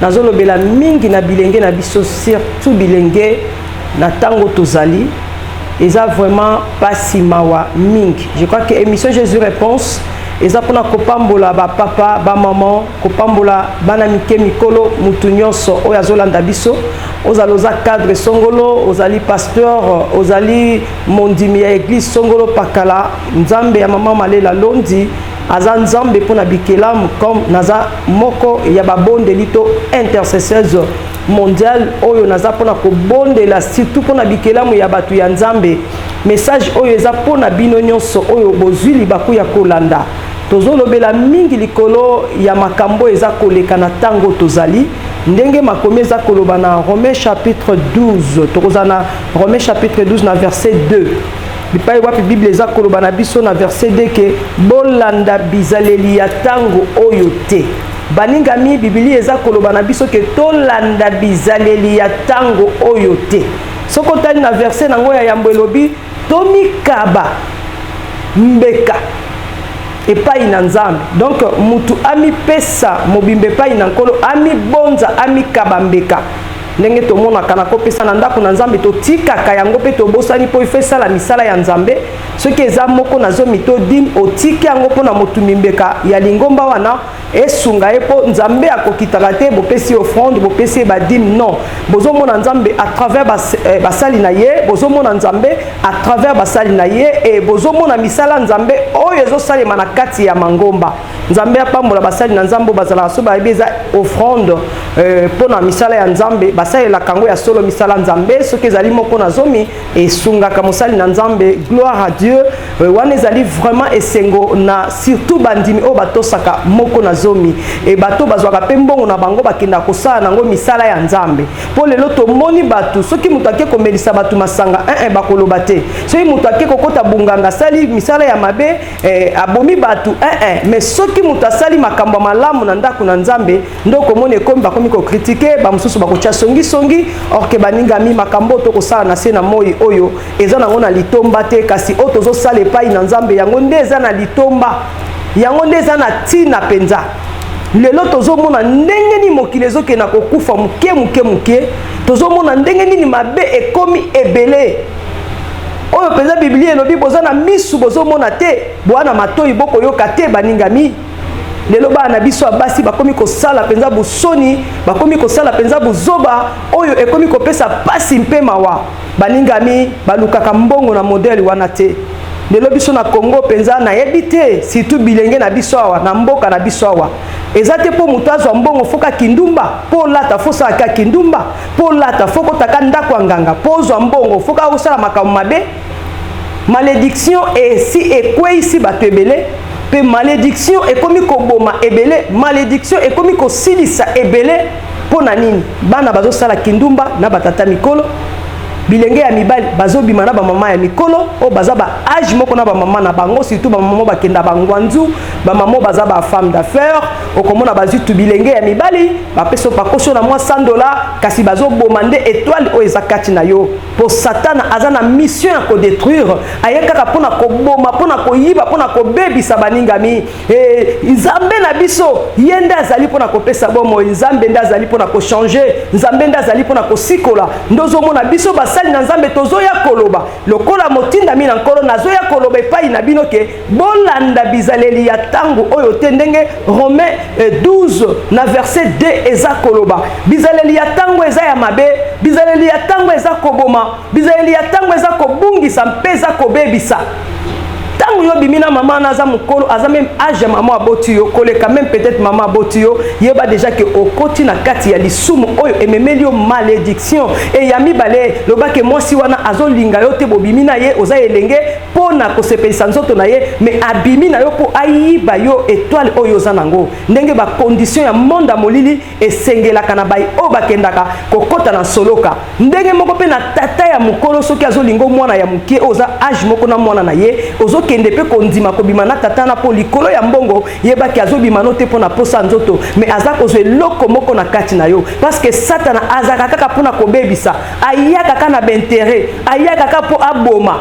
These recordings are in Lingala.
Nazolobela mingi na bilenge na biso surtout bilenge na tango tozali eza vraiment pasi mawa mingi. Je crois que émission Jésus réponse eza pona kopambola ba papa, ba maman, kopambola bana mike mikolo mutu nyonso oyo azolanda biso. Ozali oza cadre songolo, ozali pasteur, ozali mondimi ya église songolo pakala, Nzambe ya maman Malela Londi aza Nzambe pona bikelamu comme naza moko ya babondeli to intercesseuse mondiale oyo naza mpona kobondela surtout mpona bikelamu ya bato ya nzambe message oyo eza mpona bino nyonso oyo bozwi libaku ya kolanda tozolobela mingi likolo ya makambo eza koleka na ntango tozali ndenge makomi eza koloba na romain chapitre 12 tokozala na romain chapitre 12 na verset 2 Bipai wapi Biblia eza koloba na biso na verse 2 ke bolanda bizaleli ya tango oyo te. Balingami, Biblia eza koloba na biso ke tolanda bizaleli ya tango oyo te. Soki otali na verse na yango ya yambo elobi tomikaba mbeka epai na nzambe donc mutu amipesa mobimba epai na nkolo amibonza amikaba mbeka ndenge tomonaka na kopesa na ndako na nzambe totikaka yango mpe tobosani mpo ifo esala misala ya nzambe soki eza moko na zomi to dime otiki yango mpo na motu mimbeka ya lingomba wana esunga ye mpo nzambe akokitaka te bopesi offrande bopesi ye badime non bozomona nzambe à travers eh, basali na ye bozomona nzambe à travers basali na ye e bozomona misala nzambe oyo ezosalema na kati ya mangomba nzambe apambola basali na nzambe bazalaka so bayebi eza offrande euh, mpo na misala ya nzambe basalelaka yango ya solo misala nzambe soki ezali moko na zomi esungaka mosali na nzambe gloire à dieu euh, wana ezali vraiment esengo na surtout bandimi oyo batosaka moko na zomi e bato bazwaka mpe mbongo na bango bakendaka kosala nango misala ya nzambe mpo lelo tomoni bato soki moto ake komelisa bato masanga ee eh, eh, bakoloba te soki moto ake kokota bonganga asali misala ya mabe eh, abomi bato eh, eh. me soki moto asali makambo ya malamu na ndako na nzambe nde okomona ekomi bakomi kokritike bamosusu bakotya songisongi orke baningami makambo oyo tokosala na se na moi oyo eza nango na litomba te kasi oyo tozosala epai na nzambe yango nde eza na litomba yango nde eza na ntina mpenza lelo tozomona ndenge nini mokili ezokende na kokufa moke moke moke tozomona ndenge nini mabe ekomi ebele Oyo penza Biblia elobi boza na misu bozo mona te, boa na matoyi boko yoka te baningami. Lelo bana na biso ya basi bakomi kosala penza busoni, bakomi kosala penza buzoba oyo ekomi kopesa pasi mpe mawa. Baningami balukaka mbongo na modèle wana te. Lelo biso na Congo penza nayebi te surtout bilenge na biso awa na mboka na biso awa. Eza te mpo moto azwa mbongo foka kindumba, mpo olata fosaka kindumba. Mpo olata fo kotaka ndako ya nganga mpo ozwa mbongo fo kaka osala makambo mabe malediction esi ekweisi bato ebele mpe malediction ekomi koboma ebele malediction ekomi kosilisa ebele mpo na nini bana bazosala kindumba na batata mikolo bilenge ya mibali bazobima na bamama ya mikolo oyo baza ba age moko na bamama na bango surtout bamama bakenda bangwanzu bamama baza ba femme d'affaires okomona bazwi tu bilenge ya mibali bapesi bakosi na mwa 100 dola kasi bazoboma nde etoile oyo eza kati na yo mpo satana aza na mission ya kodetruire aye kaka mpo na koboma mpo na koyiba mpo na kobebisa baningami e, nzambe na biso ye nde azali mpo na kopesa bomoi nzambe nde azali mpo na kochange nzambe nde azali mpo na kosikola nde ozomona biso basali na nzambe tozoya koloba lokola motindami na nkolo nazoya koloba epai na bino ke Bolanda bizaleli ya tango oyo te ndenge Romain 12 eh, na verset 2 eza koloba. Bizaleli ya tango eza ya mabe, bizaleli ya tango eza koboma, bizaleli ya tango eza kobungisa mpe eza kobebisa. Tango yo bimi na mama na aza mukolo, aza même âge ya mama aboti yo, koleka même peut-être mama aboti yo, yeba déjà que okoti na kati ya lisumu oyo ememeli yo malédiction. Et ya mibale, loba que mwasi wana azolinga yo te bobimi na ye, oza elenge pona kosepelisa nzoto na ye mais abimi na yo mpo ayiba yo etoile oyo oza nango ndenge ba condition ya monde ya molili esengelaka na bai oyo bakendaka kokota na soloka ndenge moko mpe na tata ya mokolo soki azolingo mwana ya moke oyo oza age moko na mwana na ye ozokende mpe kondima kobima na tata na mpo likolo ya mbongo yebaki azobima no te mpo na posa nzoto mais aza kozwa eloko moko na kati na yo parce que satana azalaka kaka mpo na kobebisa ayaka kaka na baintere ayaka kaka mpo aboma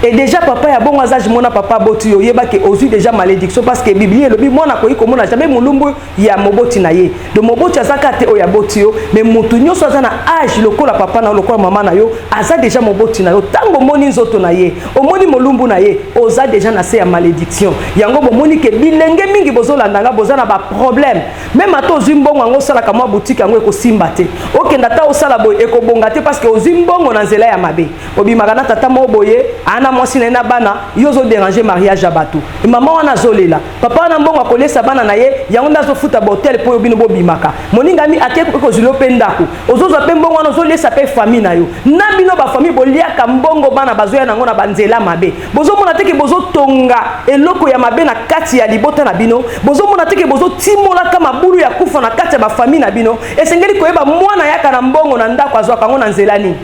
Et déjà papa ya bongo aza mona papa aboti yo yeba ke ozui déjà malédiction parce que biblia elobi mwana akoki komona jamais molumbu ya moboti na ye donc moboti aza kaka te oyo aboti yo mais motu nyonso aza na age lokola papa na yo lokola mama na yo aza déjà moboti na yo ntango omoni nzoto na ye omoni molumbu na ye oza déjà na se ya malédiction yango bomoni ke bilenge mingi bozolanda nga boza na baproblème meme ata ozwi mbongo yango osalaka mwa butike yango ekosimba te okenda ata osala boye ekobonga te parce que ozwi mbongo na nzela ya mabe obimaka na tata moko boye ana mwasi na ye na bana yo ozoderange mariage ya bato mama wana azolela papa wana mbongo akolesa bana na ye yango nde azofuta bahotel mpo yo bino bobimaka moningami ake kozwili yo mpe ndako ozozwa mpe mbongo wana ozolesa mpe fami na yo na bino bafami boliaka mbongo bana bazoya na yango na banzela mabe bozomona teke bozotonga eloko ya mabe na kati ya libota na bino bozomona teke bozotimolaka mabulu ya kufa na kati ya bafami na bino esengeli koyeba mwana yaka na mbongo na ndako azwaka yango na nzela nini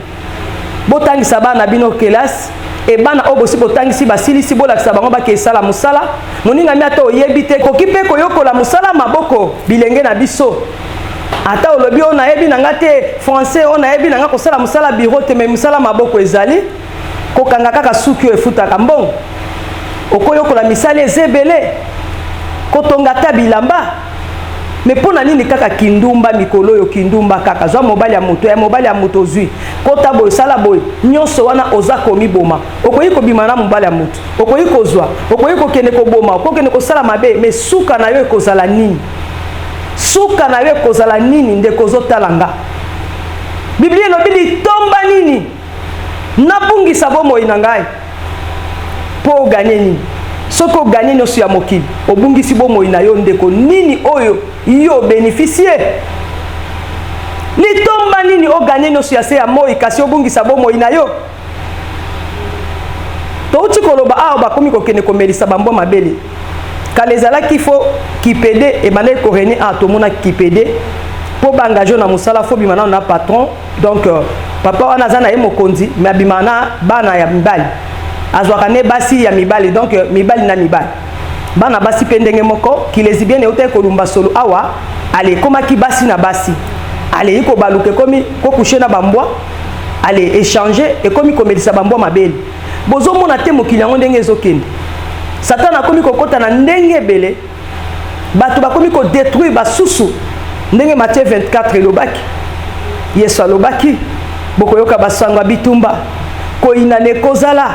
Botangisa bana na bino kelasi e bana oyo bosi botangisi basilisi bolakisa bango bakei sala mosala moningami ata oyebi te koki mpe koyokola mosala maboko bilenge na biso ata olobi oyo nayebi na nga te français oyo nayebi na nga kosala mosala biro te mai mosala maboko ezali kokanga kaka suki oyo efutaka mbongo okoyokola misala eza ebele kotonga ata bilamba me mpo na nini kaka kindumba mikolo oyo kindumba kaka zwa mobali ya moto ya mobali ya moto ozwi kota boye sala boye nyonso wana oza komiboma okoki kobima na mobali ya moto okoki kozwa okoki kokende koboma okoki kokende kosala mabe me suka na yo ekozala nini suka na yo ekozala nini ndeko ozotala nga biblia elobi litomba nini nabungisa bomoi na ngai mpo oganye nini soki oganye nyonso ya mokili obungisi bomoi na yo ndeko nini oyo yo obenefisie litomba nini oganye nyonso ya se ya moi kasi obungisa bomoi na yo touti koloba awa bakomi kokende komelisa bambwa mabele kala ezalaki fo kipede ebandaki korene awa tomonaki kipede mpo baengage yo na mosala fo bima nano na patron donc euh, papa wana aza na ye mokonzi me abima na bana ya mibali azwaka ne basi ya mibali donc euh, mibali na mibali bana basi mpe ndenge moko kilesibiene eutaki kolumba solo awa ale ekomaki basi na basi alei kobaluka ekomi kokushe na bambwa ale echange ekomi komelisa bambwa mabele bozomona te mokili yango ndenge ezokende satana akomi kokota na ndenge ebele bato bakomi kodetruire basusu ndenge matie 24 elobaki yesu alobaki bokoyoka basango ya bitumba koyinana ekozala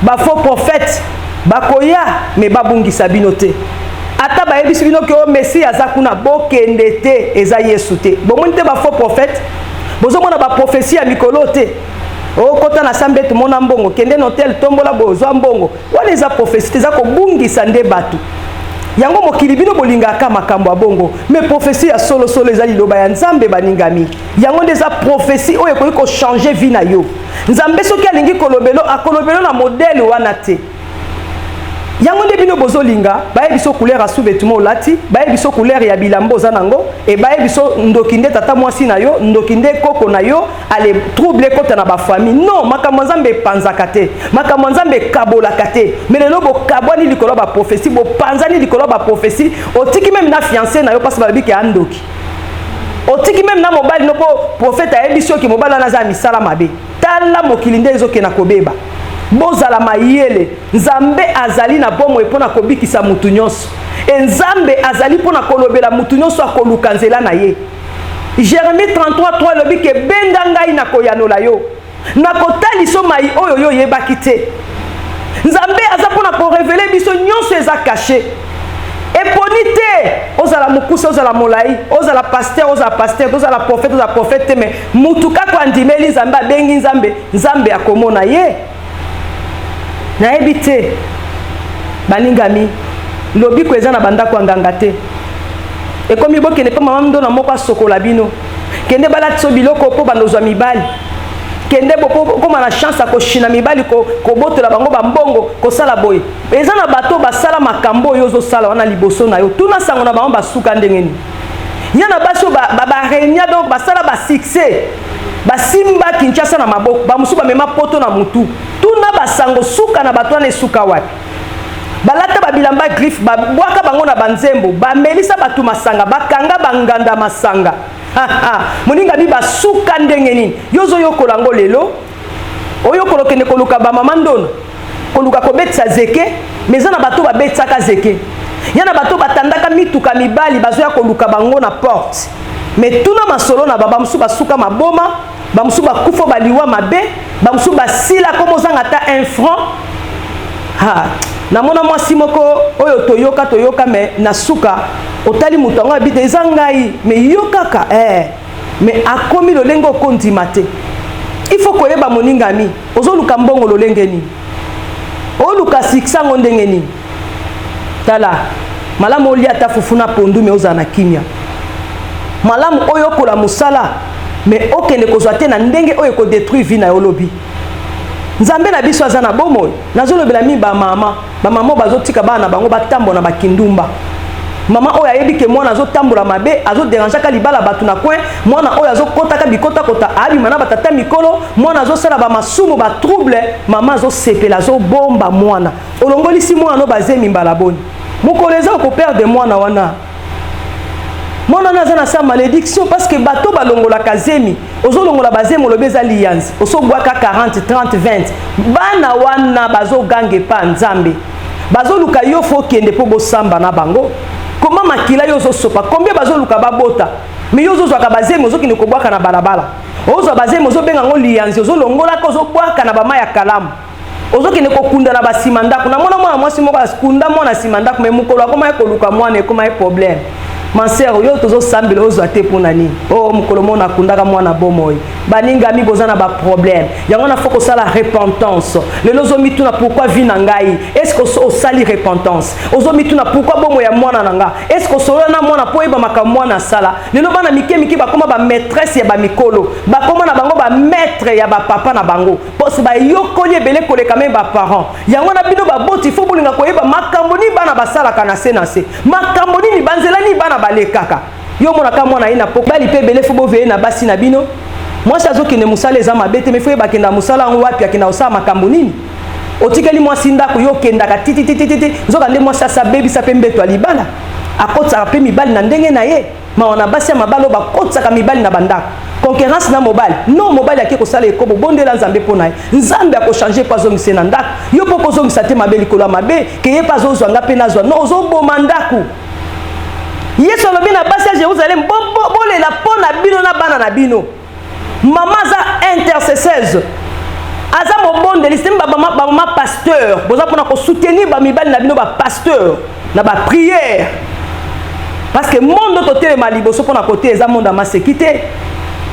bafaux prophète bakoya me babungisa bino te ata bayebisi bino ke o messi aza kuna bokende te eza yesu te bomoni te bafaux prophète bozomona baprofesi ya mikolo te okota na sambe tomona mbongo kende na hotel tombola bozwa mbongo Wana eza prophetie te, eza kobungisa nde bato. Yango mokili bino bolingaka makambo ya bongo, me prophetie ya solo solo eza liloba ya Nzambe baningami. Yango nde eza prophetie oyo ekoki ko changer vie na yo. Nzambe soki alingi kolobelo, akolobelo na modèle wana te. Yango nde bino bozolinga, baye biso couleur ya sous-vêtement olati, baye biso couleur ya bilamba oza nango, et baye biso ndoki nde tata mwasi na yo, ndoki nde koko na yo, ale trouble ekota na bafamille non makambo ya nzambe epanzaka te makambo ya nzambe ekabolaka te me lelo bokabwani likolo ya baprofesi bopanzani likolo ya baprofesi otiki meme na fiance na yo mpasi balobi ke andoki otiki meme na mobali no mpo profete ayebisi oke mobali wana aza ya misala mabe tala mokili nde ezokenda kobeba bozala mayele nzambe azali na bomoi mpo na kobikisa motu nyonso e nzambe azali mpo na kolobela motu nyonso akoluka nzela na ye Jeremie 33 3 elobi ke benga ngai na koyanola yo na kotaliso mai oyo yo oyebaki te nzambe aza mpo na korevele biso nyonso eza kashe eponi te ozala mokuse ozala molai ozala paster ozala paster ozala profete ozala profete te me motu kaka andimeli nzambe abengi nzambe nzambe akomona ye nayebi te balingami lobiko eza na bandako ya nganga te ekomi bokende mpe mama ndona moko asokola bino kende balatiso biloko mpo bandozwa mibali kende bokoma na chance ya koshina mibali kobotola bango bambongo kosala boye eza na bato basala makambo oyo ozosala wana liboso na yo tuna sango na bango basuka ndenge nini ya na basi oyo baregna donc basala basuccès Basimba Kinshasa na maboko, bamosusu bamema poto na motu. Tuna basango suka na bato wana esuka wapi? Balata babilamba griffe, babwaka bango na banzembo, bamelisa bato masanga, bakanga banganda masanga. Moninga bi basuka ndenge nini? Yo ozoyokola yango lelo? oyokola okende koluka bamama ndona koluka kobetisa zeke me eza na bato babetisaka zeke ya na bato batandaka mituka mibali bazoya koluka bango na porte me tuna masolo na baba mosusu basuka maboma bamosusu bakufa baliwa mabe bamosusu basila koma ozanga ata un franc ha namona mwasi moko oyo toyoka toyoka me na suka otali moto yango abite eza ngai me yo kaka eh. mais akomi lolenge oko ndima te il faut koyeba moningami ozoluka mbongo lolenge nini oluka succès yango ndenge nini tala malamu olia ata fufu na pondu me ozala na kimia malamu oyo okola mosala me okende kozwa te na ndenge oyo ekodetruire vi na yo lobi nzambe na biso aza na bomoi nazolobela mi bamama bamama bazotika bana na bango batambola na bakindumba mama oyo ayebi ke mwana azotambola mabe azoderangeaka libala bato na coin mwana oyo azokotaka bikotakota abima na batata mikolo mwana azosala bamasumu batrouble mama azosepela azobomba mwana olongolisi mwana no bazemi mbala boni mokolo eza okoperde mwana wana mwana wana aza na sa malédiction parce que bato balongolaka zemi ozolongola bazemi olobi eza liyanzi osobwaka 40 30 20 bana wana bazoganga epa nzambe bazoluka yo fo okende mpo bosamba na bango koma makila yo ozosopa kombie bazoluka babota me yo ozozwaka bazemi ozokende kobwaka na balabala ozwa bazemi ozobenga yango liyanzi ozolongolaka ozobwaka na bama ya kalamu ozokende kokunda na basima ndako namona mwana mwasi moko akunda mwana nsima ndako mai mokolo akomaki koluka mwana ekomaki problème manser yo tozosambela ozwa te mpo na nini o oh, mokolo moko nakundaka mwana bomoi baningami boza na baproblème yango na fo kosala repentance lelo ozomituna pourkui vi na ngai estce osali repentance ozomituna pourkui bomoi ya mwana na nga estce osolola na mwana mpo oyeba makambo mwana asala lelo bana mike mike bakoma bamaîtresse ya bamikolo bakoma na bango bamaître ya bapapa na bango bose bayokoli ebele koleka meme baparent yango wana bino baboti fo bolinga koyeba makambo nini bana basalaka na se na se makambo nini banzela nini bana balekaka yo omonaka mwana ye na po bali mpe ebele fo boveye na basi na bino mwasi azokende mosala eza mabe te mefo yeba akenda mosala yango wapi akenda kosala makambo nini otikeli mwasi ndako yo okendaka tititititi nzoka nde mwasi asabebisa mpe mbeto ya libala akotisaka mpe mibali na ndenge na ye Mawa na basi ya mabala oyo bakotisaka mibali na bandako. Concurrence na mobali. Non, mobali ake kosala ekobo, bondela Nzambe mpo na ye. Nzambe akochange mpo azongisa ye na ndako. Yo mpo kozongisa te mabe likolo ya mabe, ke ye mpe azozwa nga mpe nazwa. Non, ozoboma ndako. Yesu alobi na basi ya Jerusalem, bolela mpo na bino na bana na bino. Maman aza intercesseuse. Aza mobondeli, c'est ba maman ba maman pasteur. Boza pona ko soutenir ba mibali na bino ba pasteur na ba prière. Parce que monde to telema liboso pona kote eza monde amaseki te.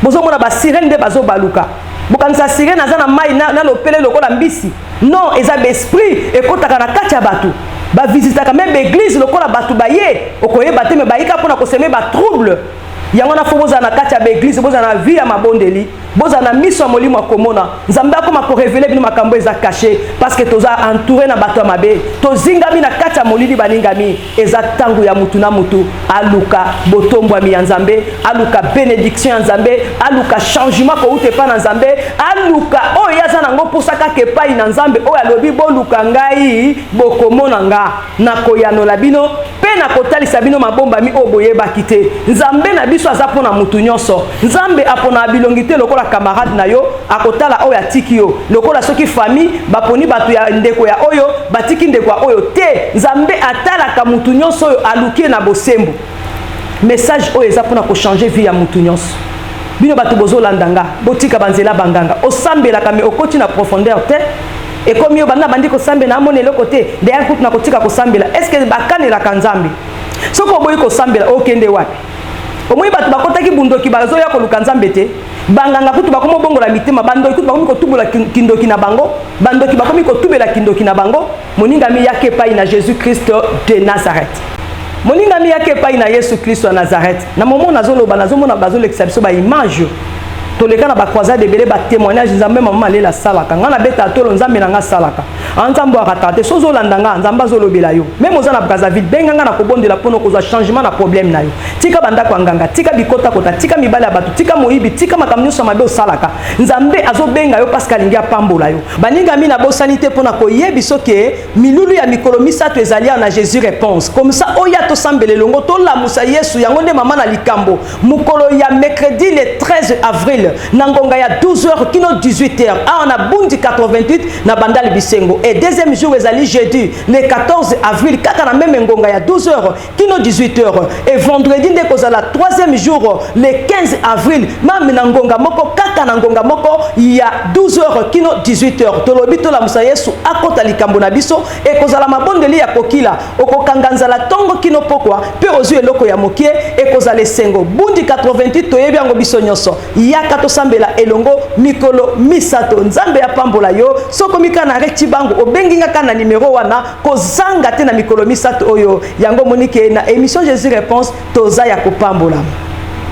Bozo mona ba sirène nde bazo baluka. Bokanisa sirène aza na mai na, na lopele lokola mbisi. Non, eza ba esprit ekotaka na kati ya bato. Ba visitaka même ba église lokola bato baye okoyeba te mais bayika pona ko semer ba trouble. yango na fo bozala na kati ya baeglize bozala na vie ya mabondeli bozala na miso ya molimo ya komona nzambe akoma korevele bino makambo eza kashe parceke toza entoure na bato ya mabe tozingami na kati ya molili balingami eza ntango ya motu na motu aluka botombwami ya nzambe aluka benediction ya nzambe aluka changement kouta epai na nzambe aluka oyo ye aza nango mposa kaka epai na nzambe oyo alobi boluka ngai bokomona nga nakoyanola bino mpe nakotalisa bino mabombami oyo boyebaki te nzambe na biso aza mpo na moto nyonso nzambe aponaka bilongi te lokola kamarade na yo akotala oyo atiki yo lokola soki famille baponi bato ya ndeko ya oyo batiki ndeko ya oyo te nzambe atalaka moto nyonso oyo aluki ye na bosembo message oyo eza mpona kochange vie ya moto nyonso bino bato bozolanda nga botika banzela banganga osambelaka me okoti na profondeur te ekomi yo banda bandi kosambela amona eloko te dayar kutu na kotika kosambela est ce que bakanelaka nzambe soki oboyi kosambela okende wapi omoni bato bakotaki bundoki bazoya koluka nzambe te banganga kutu bakomi obongola mitema bandoki kutu bakomi kotubola kindoki na bango bandoki bakomi kotubela kindoki na bango moningami yaka epai na jésus kristo de nazareth moningami yaka epai na yesu kristo ya nazareth na momo nazoloba nazomona bazolekisa biso baimage toleka na ba croisade ebele ba témoignage nzambe mama malela asalaka ngai nabeta tolo nzambe na ngai asalaka a nzambe arataka te soki ozolanda ngai nzambe azolobela yo meme oza na brazzaville benga ngai na kobondela mpo na kozwa changement na problème na yo tika bandako ya nganga tika bikotakota tika mibale ya bato tika moyibi tika makambo nyonso mabe osalaka nzambe azobenga yo parceke alingi apambola yo baningami nabosani te mpo na koyebi soki Milulu ya mikolo misato ezali awa na Jesus Reponse. Komisa oya tosambela elongo tolamusa Yesu yango nde mama na likambo. Mokolo ya mercredi le 13 avril na ngonga ya 12h kino 18h awa na Bundi 88 na Bandal Bisengo. Et deuxième jour ezali jeudi le 14 avril kaka na meme ngonga ya 12h kino 18 heures et vendredi nde kozala troisième jour le 15 avril mame na ngonga moko kaka na ngonga moko ya 12 heures kino 18 heures tolobi tolamusa yesu akota likambo na biso ekozala mabondeli ya kokila okokanga nzala ntongo kino pokwa mpe ozwi eloko ya mokie ekozala esengo bundi 88 toyebi yango biso nyonso yaka tosambela elongo mikolo misato nzambe apambola yo sokomika na retibango obengi ngaka na nimero wana kozanga te na mikolo misato oyo yango omoni ke na emission jesus reponse toza ya kopambolama.